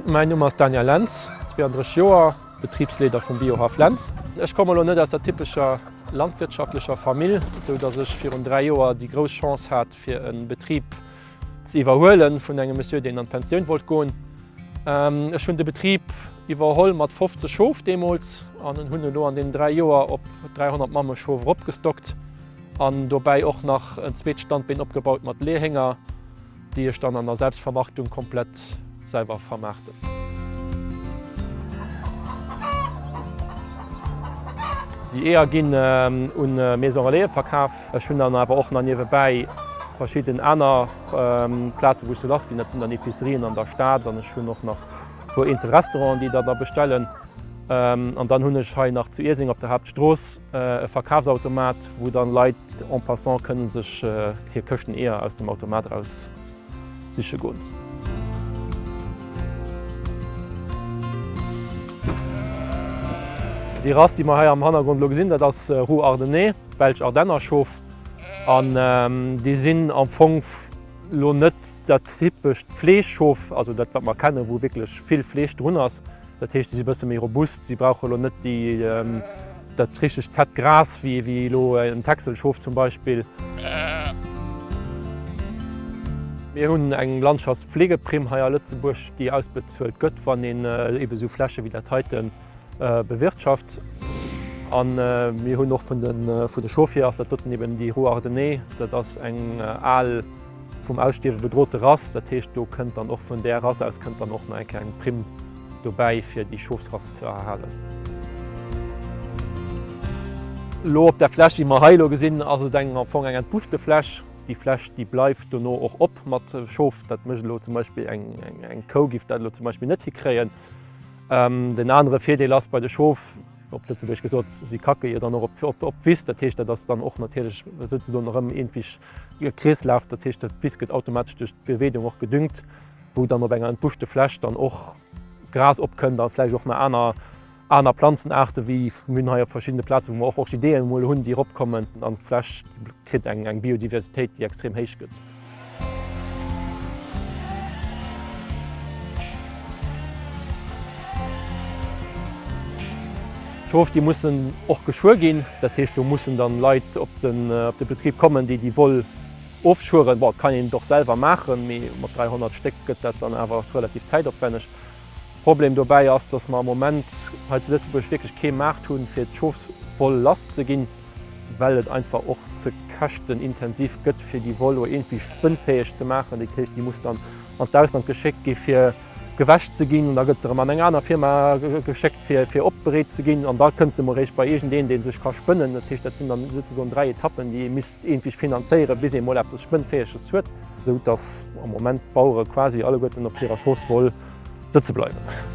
Mäin Numm ass Daniel Lentz, 32 Joer, Betribsleeder vum Biohaff Lentz. Ech komme lo net aus der typescher landwirtschaftlecher Famill, sou dass ech virun 3 Joer déi grouss Chance hat, fir e Betrib ze iwwerhuelen vun engem Monsieur, deen an d'Pensioun wollt goen. Ech hunn de Betrib iwwerholl mat 50 Schof deemools an hunn elo an deenen dräi Joer op 300 Mammeschof eropgestockt an dobäi och nach en zweet Standbeen opgebaut mat Leehénger, déi ech dann an der Selbstvermarktung komplett selwer vermaarten. Déi Eeër ginn un d'Maison Relais verkaf. Ech hunn dann awer och nach niewebäi verschidden aner Plazen, wou ech se lass ginn. Dat sinn dann Epicerien an der Stad an ech hunn och nach e puer eenzel Restauranten, déi der da bestellen. An dann hunn ech hei nach zu Ierseng op der Haaptstrooss e Verkafsautomat, wou dann Leit en passant kënne sech hir Këschten Eeër aus dem Automat eraus siche goen. Déi Rass, déi mer hei am Hannergrond elo gesinn, dat ass Roux Ardennais, belsch Ardennerschof. An déi sinn am Fong elo net dat typescht Fleeschschof, also dat, wat mer kennen, wou wierklech vill Fleesch drun ass. Dat heescht, si si e bësse méi robust, si brauche elo net dat richtegt fett Gras wéi elo en Texelschof zum Beispill. Mir hunn eng Landschaftspflegeprimm hei a Lëtzebuerg, déi ausbezuelt gëtt, wann een ebe esou Fläche wéi dat heite bewirtschaft. A mir hunn och vun de Schofhier ass dat doten eben déi Rue Ardennais, dat ass eng al. vum Ausstierwe bedrote Rass. Dat heescht, do kënnt dann och vun där Rass aus kënnt dann och nach eng kleng Primm dobäi, fir déi Schofsrass ze erhalen. Elo op der Fläch, déi mer hei elo gesinn, ass et eng am Fong eng entbuschte Fläch. Déi Fläch, déi bleift dono och op mat Schof. Dat mécht elo zum Beispill eng eng Kou giff dat elo zum Beispill net hikréien. Den anere Virdeel ass bei de Schof, op Lëtzebuergesch gesot, si kacke jo dann och op d'Wiss. Dat heescht, dat ass dann och natierlech souzedoen erëm iergendwéi e Kreeslaf, dat heescht dat Wiss gëtt automatesch duerch d'Beweedung och gedüngt, wou dann op enger entbuschte Fläch dann och Gras opkënnt a vläicht och nach aner aner Planzenaarte wéi mir hunn hei op verschiddene Plaze wou mer och Orchideeën emol hunn déi eropkommen an d'Fläch kritt eng eng Biodiversitéit déi extrem héich gëtt. D'Prove déi mussen och geschwuer ginn, dat heescht do mussen dann Leit op de Betrib kommen déi déi Woll ofschwueren. Bon et kann een et och selwer maachen, mee mat 300 Stéck gëtt dat dann awer oft relativ zäitopwänneg. Problem dobäi ass, dass mer am Moment hei zu Lëtzebuerg wierklech kee Maart hunn fir d'Schofswoll lass ze ginn, well et einfach och ze käschtenintensiv gëtt fir déi Woll o iergendwéi spënnfäeg ze maachen. Dat heescht déi muss dann an d'Ausland geschéckt gi fir. gewäsch ze ginn, da gëtt se erëm an eng aner Firma geschéckt fir fir opbereet ze ginn an da kënnt se emol réischt bei iergendeen dee sech ka spënnen. Dat heescht dat sinn dann souzesoen 3 Etappen déi ee misst iergendwéi finanzéieren bis ee mol eppes Spënnfäeges huet. Esou dass am Moment d'Bauere quasi alleguerten op hirer Chance woll sëtze bleiwen.